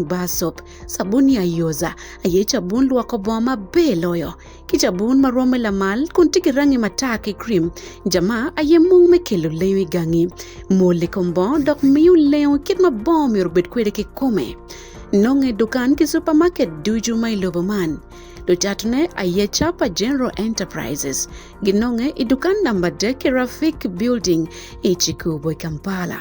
bar soap, sabun ya yoza, aye cabun lwoko bongo maber loyo, ki cabun ma rwomme lamal kun tye ki rangi matar ki cream. Jama aye mung me kelo lenyo i gangi. Mol i kom bongo dok miyo lenyo kit ma bongo myero obed kwede ki kome. Nonge dukan ki supermarket ducu ma i lobo man. Lucatone aye Chapa General Enterprises ginonge i dukan namba dek ki Rafik Building i Chikubo, Kampala.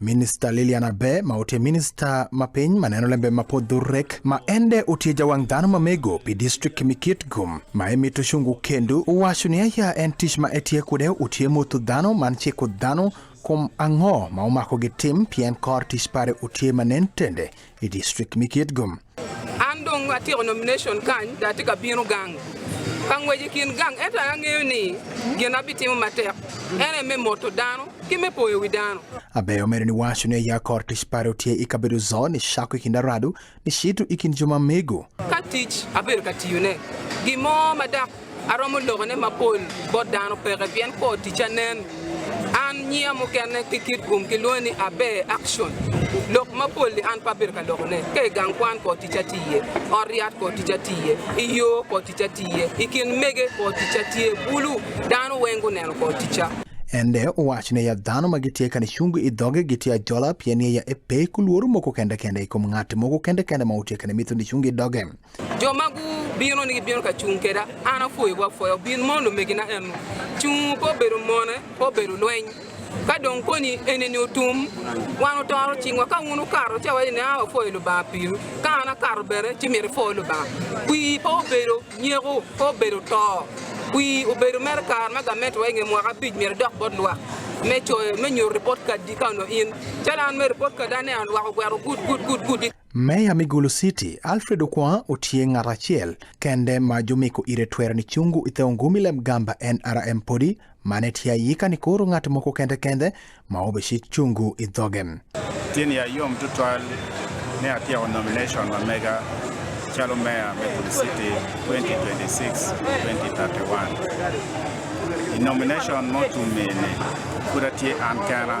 Minista Lilian Abe ma otie minista ma piny ma neno lembe ma pod dhurrek ma ende otie jawang' dhano ma mego pi district Mikitgum ma emito shungu kendu wacho ni aya en tich ma etie kude otie motho dhano man chiko dhano kuom ang'o ma omako gi tim pien kor tich pare otie ma nen tende i district me Kitgum. An dong atyeko nomination kany da atye ka bino gang ka ngwec i kin gang ento angeyo ni gin abitimo matek ene me moto dano ki me poyo wi dano Abeyo omedo ni wacho ni ya kor tic pare otye i kabedo zo ni cako i kin aradu ni cito i kin jo ma mego. ka tic abedo ka tiyone gin mo ma dak aromo lokone mapol bot dano peke pien kor ticca nen an nyia mukene ki kit gum ki lwongo ni abe action lok mapol ni an pe abedo ka lokone ka i gang kwan kor ticca tye iye ot ryat kor ticca tye iye i yo kor ticca tye iye i kin mege kor ticca tye bulu dano weng guneno kor ticca Ende owacho ne ya dhano ma gitye ka ni chungu i dhoge gitye ajola pien ye ya epe kulworo moko kende kende i kom ng'at moko kende kende ma utye ka ni mitho ni chungu i doge. jo ma gubino ni gibino ka cung keda an apwoyo bwa pwoyo bin mondo megina eno cung po bedo mone po bedo lweny ka dong koni eneni otum wan otoro cingwa ka un ukaro ce wani na wapwoyo lubanga piru ka an akaro bene ci miri pwoyo lubanga wi po obedo nyeko po obedo to wi obedo mere kar ma gamente wa inge mwaka abic miri dok bot lwak me coyo me nyoro report kad di ka no in calo an me report kad ane an lwako gwero gud gud gud gud Meya Migulu City Alfred Okwa otie ng'at achiel kende ma jomeko ire twero ni chungu ithe ongumi lem gamba en RM podi mane tia yika ni koro ng'at moko kende kende ma obeshi chungu idhoge. Tieni ya yom tutwal ne atia on nomination ma mega chalo meya Migulu City 2026-2031. In nomination motumene kura tie an kena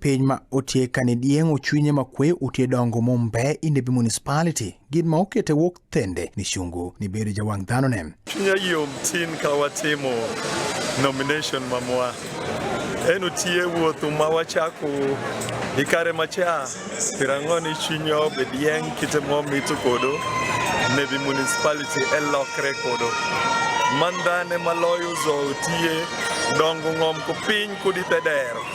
Piny ma otye ka ni dyeng ocwinye makwe otye dongo mumbe i Nebi Municipality gin ma okete wok thende ni cungu ni bedo jawang dhanone. Chunya yom tin ka watimo nomination mamwa en otie wuothu ma wachako i kare macha piero ang'wen i chunya obe dyeng kite mo mito kodo Nebi Municipality elokre kodo man dhane maloyo zo otie dongo ng'om ko piny kudi te dero.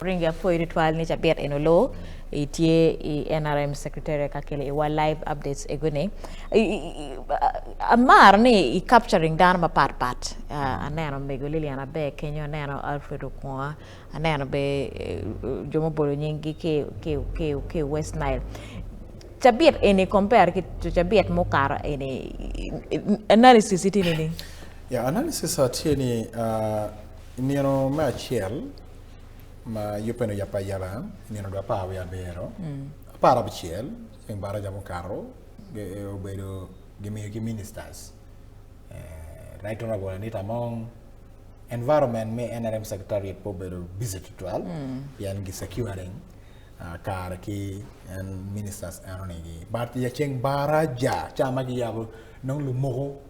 Oringe apo iritwal ni jaber eno lo itie i NRM secretary kakele i wa live updates egone amar ni i capturing dano ma pat pat ah, aneno mego Lilian Abe kenyo aneno Alfred Okwonga aneno be eh, jo mobolo nyinggi ke ke ke ke West Nile cabit eni compare ki cabit mukaro eni analysis itini ni Ya, analysis atie ni uh, imiero me achiel ma yupeno ya payala imiero dwa pawe abero mm. apar abchiel chieng' bara jamo karo e, obedo gimiyo gi ministers uh, right honorable Anita Among environment me NRM secretariat po bedo busy to twelve mm. yan gi securing uh, kar ki en ministers anonigi but ya chieng' bara ja chama gi yabo nong lumoko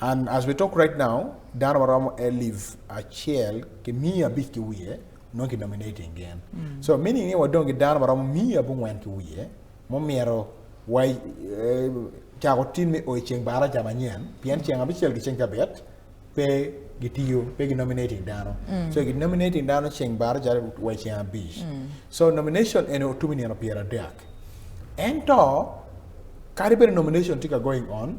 And as we talk right now, dano maromo elif achiel ki mia abic ki wiye nongo ki nominate again. Mm. So meaning ni wadong ki dano maromo mia abongwen ki wiye mumyero wa eh, cako tin me oyo ceng bara ca manyen pien ceng abicel ki ceng cabet pe gitiyo pe gi nominating dano mm. so gi nominating dano ceng bara ca wa ceng abic mm. so nomination ene otumi nino pyera dek ento kadi bene nomination tika going on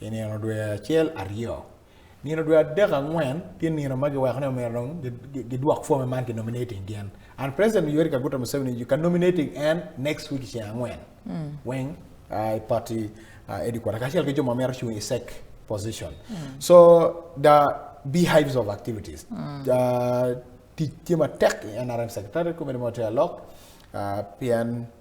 i nino dwe acel aryo nino dwe adek angwen tye nino ma giweko ni omyero dong gidwok forme man ki nominating gin and president yoweri kaguta museveni you can nominating en next week ceng angwen mm. weng uh, party uh, edikwata kacel ki jo ma myero cung i sec position mm. so the beehives of activities mm. uh, tic tye matek i nrm secretary committee motel lok uh, pien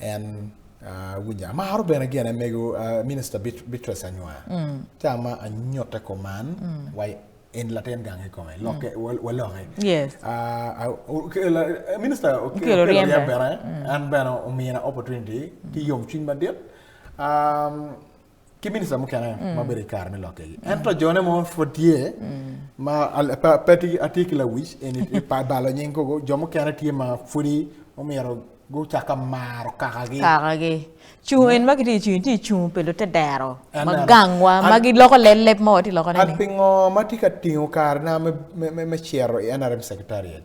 And uh, winja amaro bene gin amego uh, minister Bit Beatrice Anywar mm. te ama anyote koman mm. wai en latin gang i kome loke mm. waloke yes uh, uh, minister okelo riembe bene mm. an bene omina opportunity mm. ti yom cwiny madit um, ki minista mukene mm. ma bedo kare me lokke gi en to jone mo fo tye mm. ma peti atiki la wic en i pa balo nying kogo jo mukene tye ma fudi omiro go chaka maro kaka gi kaka gi chung en ma kiti chung ti chung pelo te dero ma gangwa ma gi loko le lep mo ti loko ne ni pingo ma ti ka tingo kare na me me me chero i NRM secretariat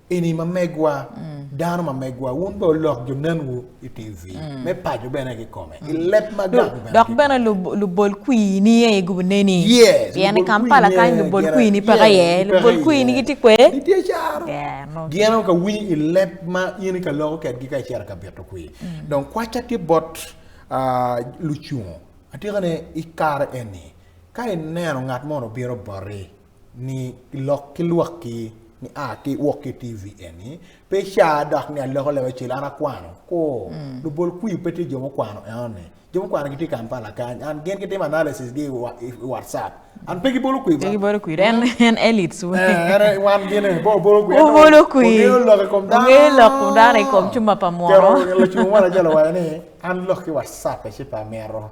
Eni ma megwa, mm. dano ma megwa, wun be olok jo nenwu i TV, mm. me paco bene ki kome, mm. i lep ma gang bene. Dok bene lubol kwi ni ye i gubu neni. Yes. Pien i Kampala kany lubol kwi ni peka ye, lubol kwi ni ki ti kwe. Ni ti echaro. Gien ka winy i lep ma yeni ka loko ket gi ka echaro ka bito kwi. Mm. Don kwacha ti bot uh, lucungo, atika ne i kar eni, ka i neno ngat mono biro bori, ni lok ki lwak ki ni a ki wok ki tv eni pe cha dok ni aloko lewe cil an akwano ko mm. lubol kwi pe ti jo mukwano eoni jo mukwano gitye kampala kany an gen gitimo analysis gi i whatsapp an pe gibolo kwi ba gibolo kwi en mm. en elites we eh, en wan gen en bo bolo kwi bolo kwi ngelo lok kom dan ngelo lok kom dan e kom chuma pa moro kero ngelo chuma wala jalo wala ni an lok ki whatsapp e chipa mero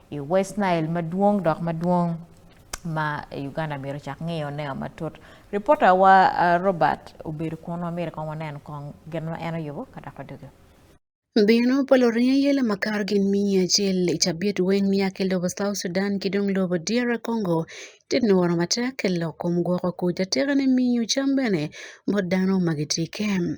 i West Nile madwong dok madwong ma Uganda myero cak ng'iyo neo matut. Ripota wa uh, Robert obedo kun ma myero kong wanen kong gin ma en oyubo ka dok wadugo. Bino polo rinya yela makar gin miyi achiel i cabit weng miya ki lobo South Sudan ki dong lobo DR Congo tit ni woro matek ki lok kom gwoko kuc atika ni miyo cam bene bot dano ma gitye kem.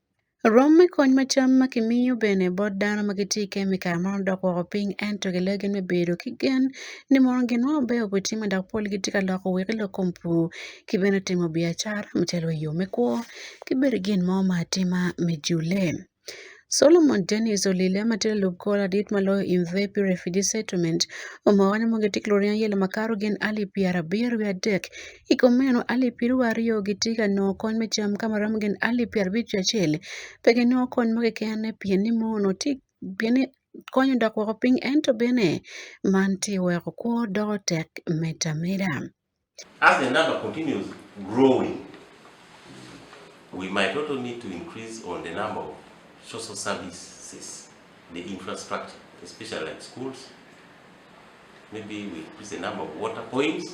Rwom me kony ma cam ma kimiyo bene bot dano ma gitye i kembi i kare mono dok woko piny ento gileo gin me bedo ki gen ni mono gin mo maber obitime dok pol gitye ka loko wek elok kom pur ki bene timo biacara macalo i yo me kwo ki bene gin mo ma atima me jule. Solomon Denis olille ma tye lalub kor ladit ma loyo in the Pi Refugee Settlement omoko ni mono gitye ki luringo aye lama kato gin alip pyerabiro wiye adek Iko meno alip piru ariyo gi tiga no kony me cham kama ram gen alip pier abich gi achiel. Pege no kony moge kene pien ni mono ti pien ni konyo dok wako piny ento bene man ti weko kwo doko tek meta meda. As the number continues growing, we might also need to increase on the number of social services, the infrastructure, especially like schools. Maybe we increase the number of water points.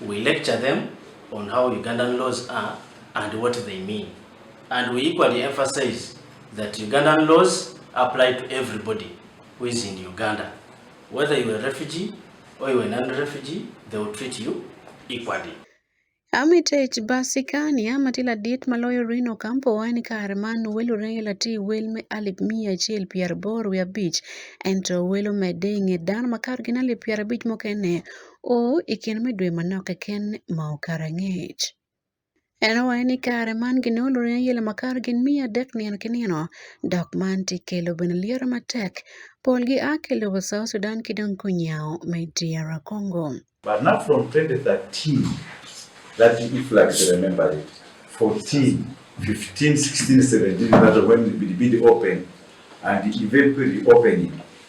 We lecture them on how Ugandan laws are and what they mean. And we equally emphasize that Ugandan laws apply to everybody who is in Uganda. Whether you are a refugee or you are a non-refugee, they will treat you equally. Armitage Basikani ama til adit maloyo Rino Campo en kar man welo rela ti wel me alip mia achiel pier bor wi abich ento welo me dinge dan makar gin alip pier abich mokene Oo, i kin me dwe manok keken ma okara ngec. En owaye ni kare man gin olure ayela makar gin miya adek nino ki nino dok man ti kelo bene lyero matek polgi a ki lobo South Sudan ki dong kunyawo me DR Congo. But not from 2013 that you if like to remember it 14 15 16 17 that when the bidi open and the event reopening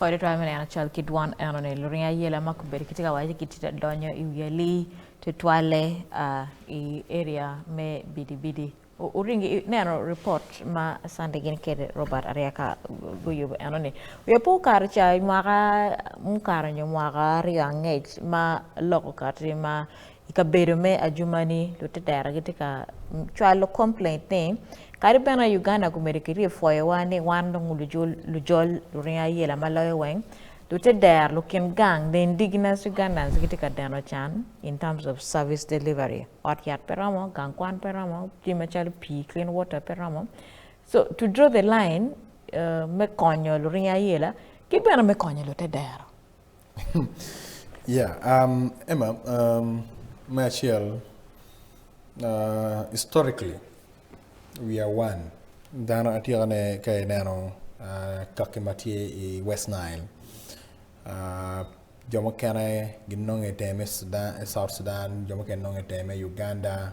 Ore to amene ana chal kidwan ana ne lurin ya yela mak ber kiti ka waje kiti da donyo i yeli te twale uh, i area me bidi bidi uringi ne ano report ma sande gin kede Robert aria ka guyu ano ne we po kar cha mwaka mkar nyo mwaka ria ngej ma loko kati ma i kabedo me ajumani lutitera gitye ka cwalo complaint ni kadi bene Uganda gumedo ki ryefoyowa ni wan dong lujol luringo ayela ma loyo weng lute der lukin gang the indigenous Ugandans gitye ka deno can in terms of service delivery ot yat pe romo gang kwan pe romo jami macalo pii clean water pe romo so to draw the line uh, me konyo luringo ayela ki bene me konyo lute dero yeah, um, Emma, um, Machiel, uh, historically, we are one. Dano atira ne kay neno uh, kaki matye i West Nile. Uh, jo mukene ginongo iteme Sudan, South Sudan, jo mukene nongo iteme Uganda,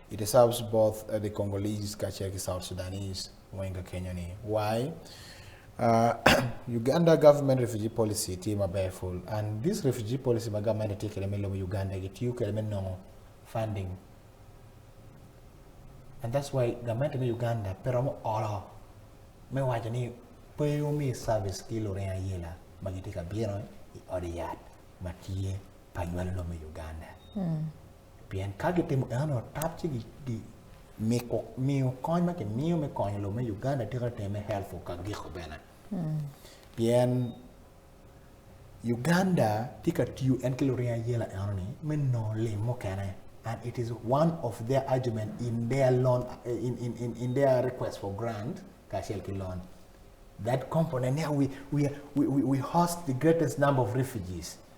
It deserves both uh, the Congolese kaachiel gi South Sudanese moinga Kenya ni. Why? Uh, Uganda government refugee policy tiyo maber full and this refugee policy ma government tiyo kode miluongo Uganda gi tiyo kode minong'o funding and that's why government ma Uganda pero mo olo me wacho ni peyo mi service kilore ayela ma giti ka biro i od yath ma tiye pa nywalo lomo Uganda mm. Pien ka gitimo eno tap ci gi miko miyo kony ma kimiyo me konyo lo me Uganda tye ka teme helpful ka giko bene. Hmm. Pien Uganda tye ka tiyo en ki luring ayela eno ni me nongo lim mukene and it is one of their argument in their loan in, in, in, in their request for grant kacel ki loan. That component, yeah, we, we, we, we host the greatest number of refugees.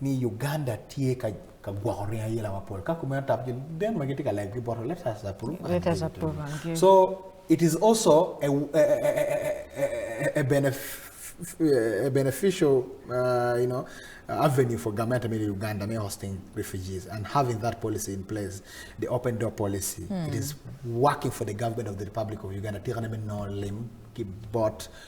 ni Uganda tye ka ka gwoko ringo ayela mapol ka kumeno tap jo den ma gitye ka lego ki boto let us approve and Let us give it to approve you. and give. so it is also a, a, a, a, a, benef- a beneficial uh, you know avenue for government I mean Uganda may hosting refugees and having that policy in place the open door policy it is working for the government of the Republic of Uganda tira ne no lim ki bot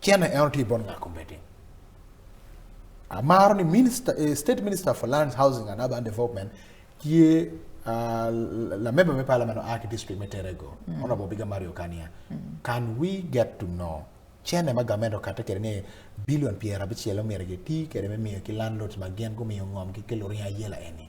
China e onti bon ngako meeting. Amaro ni minister, eh, state minister for lands, housing and urban development kie uh, ah, la member me parliament o aki district me terego. Mm. Honorable Biga Mario Kania. Mm. Can we get to know China ma gamendo kata kere ni billion piera bichielo mere ge ti kere me miyo ki landlords ma gen go miyo ngom ki kelori ayela eni.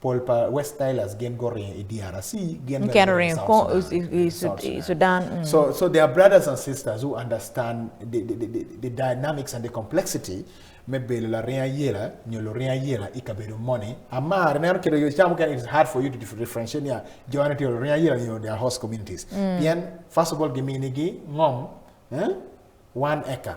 Paul pa West Tyler's gen go rin e DRC gen can rin ko Sudan. Mm. So so there are brothers and sisters who understand the the, the, the dynamics and the complexity me belo la rin yela nyolo rin yela ikabedo money amar ne kero yo chamu kan it's hard for you to differentiate ya joana to rin yela you know their host communities mm. bien first of all giminigi ngom eh? one acre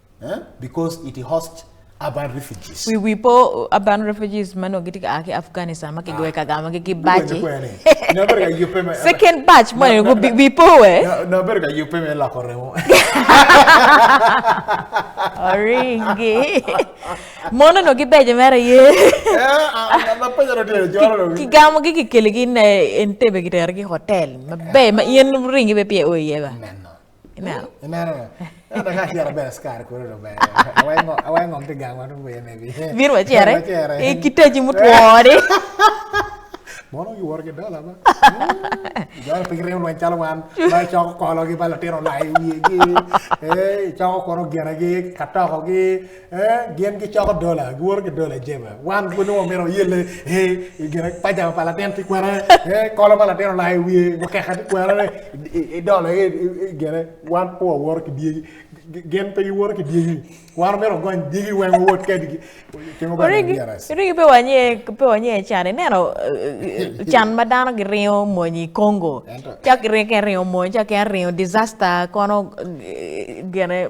eh? because it hosts urban refugees we we po urban refugees mano giti ka ake afghanistan ma kigoe ah. ka gama ki bachi na berga yupe me second batch mo go we po we na berga yupe me la corremo oringi mono no gibeje mera ye ki gamo gi ki kele gi ne entebe gi ter gi hotel mabe ma yen ringi be pie oye ba Neno. Neno. Neno ka kiara ber skar koro no ber. Awengo awengo mti gangwa no ber ne bi. Vir wa chere. E kiteji mutwori. Mono gi worge dola ba. Jor ping rew lwen chalo wan. Ba choko kolo gi ba latero lai wiye gi. Eh choko koro gera gi katoko gi. eh, gin gicoko dola giworo ki dola jeba wan gunongo mito yelle eh, i gine pajama pa latin ti kwere eh, kolo pa latin olai wiye wakeka ti kwere i dola i gine wan po waworo ki dyegi gin pe giworo ki dyegi wan mito gony dyegi weng wot kedgi tingo ba Origi DRS. origi pe wanye pe wanye can ineno eh, eh, can ma dano giringo mony i Congo. Ento. Cak giringo ke ringo mony, cak ke ringo disaster kono eh, gene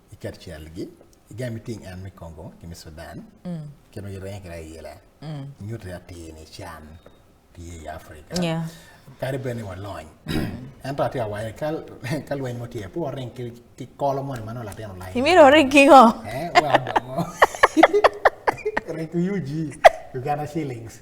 i Kaccelgi i jami ting en me Kongo ki me Sudan mm. kino i renge kira yela mm. nyuto atir ni can tye i Afrika yeah. kadi bene walony ento atye awaye ka lweny mo tye po ring ki kolo moni mano latin olai imiro ring ki ngo eh, ring ki UG Uganda shillings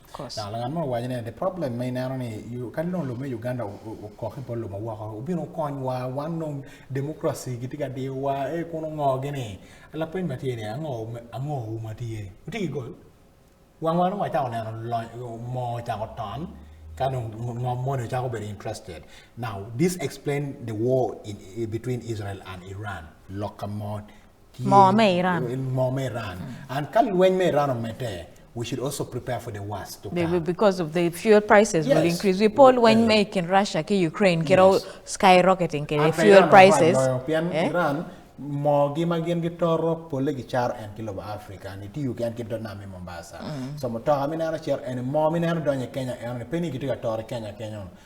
Dok ngat mo owaco ni the problem ma ineno ni ka nong lume Uganda okok i bol lume woko obino konywa wan nong democracy gitye ka diwa e eh, kun ongo gini lapeny ma tye ni ango ango ma tye utye ki gol wang wan ongo acako neno mo ocako ton ka nong ngom mo ni ocako bedo interested now this explain the war in, between Israel and Iran lok ka mo Ki- Moo me Iran. Moo me Iran. And ka lweny me Iran omedde, we should also prepare for the worst to Be- be- come. Because of the fuel prices will Yes. increase. We poll when Yeah. make in Russia, ki Ukraine, ki all Yes. skyrocketing, ki the Ata fuel Iran prices. okwalo loyo, pien eh? Iran moogi ma gin gitoro pole gicaro en ki lobo Africa ni tiyo ki en ki do nam i Mombasa. So mutoka mineno cer en moo mineno donyo i Kenya en ni pe ni gitye ka toro i Kenya Kenya on.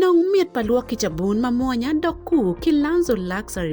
Nong mit pa lwok ki cabun ma mwonya dok ku ki Lanzo Luxury